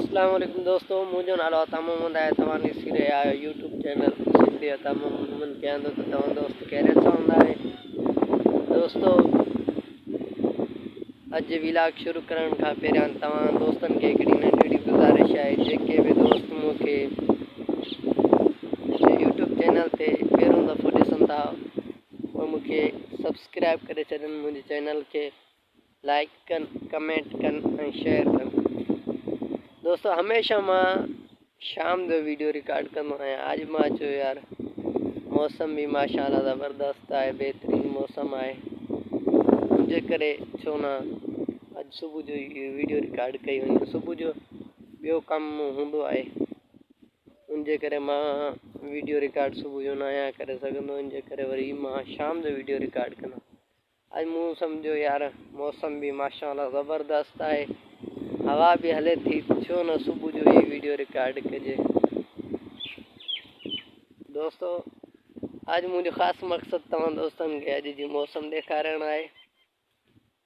السلام عليڪم دوستو منهنجو نالو آهي عطا محمد آهي توهان ڏسي رهيا آهيو يوٽيوب چينل سنڌي عطا محمد ڪيان ٿو ته توهان دوست خيريت سان هوندا آهي دوستو اڄ ولاگ شروع ڪرڻ کان پهريان توهان دوستن کي هڪڙي ننڍڙي گزارش آهي جيڪي به دوست مون کي يوٽيوب چينل تي پهريون دفعو ڏسن ٿا اهي مون کي سبسڪرائب ڪري ڇڏن منهنجي چينل کي لائڪ ڪن ڪمينٽ ڪن ۽ شيئر ڪن دوستو هميشه مان شام جو ويڊيو رڪارڊ ڪندو آهيان اڄ مان چيو يار موسم به ماشاء الله زبردست آهي بهترين موسم آهي ان جي ڪري ڇو نه اڄ صبح جو ويڊيو رڪارڊ ڪئي وڃي صبح جو ٻيو ڪم هوندو آهي ان جي ڪري مان ويڊيو رڪارڊ صبح جو ناهيان ڪري سگهندو ان جي ڪري وري مان شام جو ويڊيو رڪارڊ ڪندو اڄ مون سمجهيو يار موسم به ماشاء الله زبردست آهي هوا به هلي ٿي ڇو نه صبح جو هي ويڊيو رڪارڊ ڪجي دوستو اڄ منهنجو خاص مقصد توهان دوستن کي اڄ جي موسم ڏيکارڻ آهي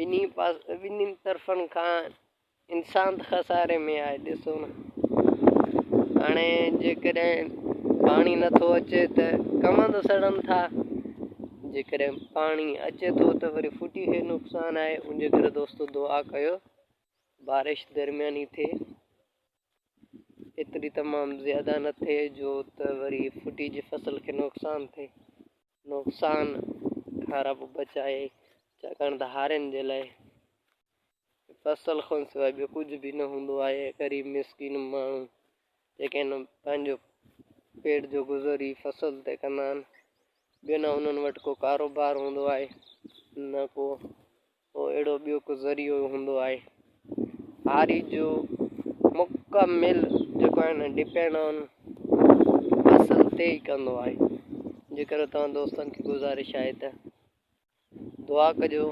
ٻنهي پاسن ٻنهي طرفن کان انسان ته خساري ۾ آهي ڏسو نه هاڻي جيڪڏهن پاڻي نٿو اچي ته ڪمند سڙن ٿا جيڪڏهن پاڻي اچي ٿو ته وري ڦٽي کي نقصان آهي ان جي ڪري دوستو دعا ڪيو بارش درمياني ٿئي ايتري تمام زياده نه ٿئي جو ته وري ڦٽي جي فصل کي نقصان ٿئي نقصان کان رب بچائي، ڇاڪاڻ ته هارين جي لاء فصل کان سواء ٻيو ڪجهه به نه هوندو آهي. غريب مسڪين ماڻهو جيڪي هن پنهنجو پيٽ جو گذر ئي فصل تي ڪندا آهن، ٻيو نه انهن وٽ ڪو ڪاروبار هوندو آهي، نه ڪو پوء اهڙو ٻيو ڪو ذريعو هوندو آهي هاري جو مڪمل جيڪو آهي نه ڊپينڊ آن اصل تي ئي ڪندو آهي جيڪر توهان دوستن کي گزارش آهي ته دعا ڪجو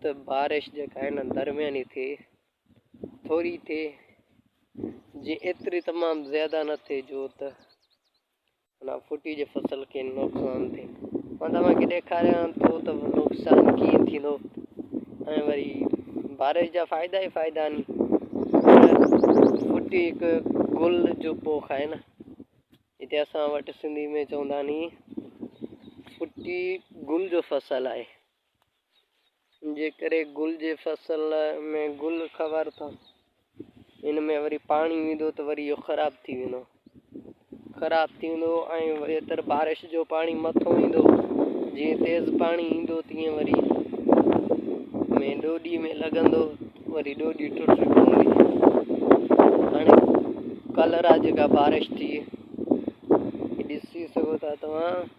ته بارش جيڪا آهي نه درمياني ٿئي ٿوري ٿئي جي ايتري تمام زياده نه ٿئي جو ته ان ڦٽي جي فصل کي نقصان ٿين مان توهان کي ڏيکاريان ٿو ته نقصان ڪيئن ٿيندو ۽ وري بارش جا فائدا ئي فائدا آهن ڦٽي هڪ گل جو پوک آهي نه هتي اسان وٽ سنڌي ۾ چوندا ني ڦٽي گل جو فصل آهي جي ڪري گل جي فصل ۾ گل کور ٿا ان ۾ وري پاڻي ويندو ته وري اهو خراب ٿي ويندو خراب ٿي ويندو ۽ وري تر بارش جو پاڻي مٿو ايندو جي تيز پاڻي ايندو تيئن وري ۾ ڏوڏي ۾ لڳندو وري ڏوڏي ٽٽي پوندي هاڻي ڪلر آ جيڪا بارش ٿي ڏسي سگهو ٿا توهان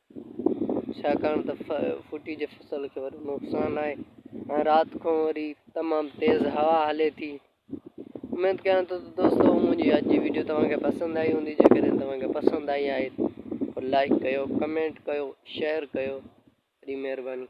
ڇاڪاڻ ته ڦٽي جي فصل کي وڏو نقصان آهي ۽ رات کان وري تمام تيز هوا هلي ٿي اميد ڪيان ٿو ته دوستو منهنجي اڄ جي ويڊيو توهان کي پسند آئي هوندي جيڪڏهن توهان کي پسند آئي آهي ته لائڪ ڪيو ڪمينٽ ڪيو شيئر ڪيو وڏي مهرباني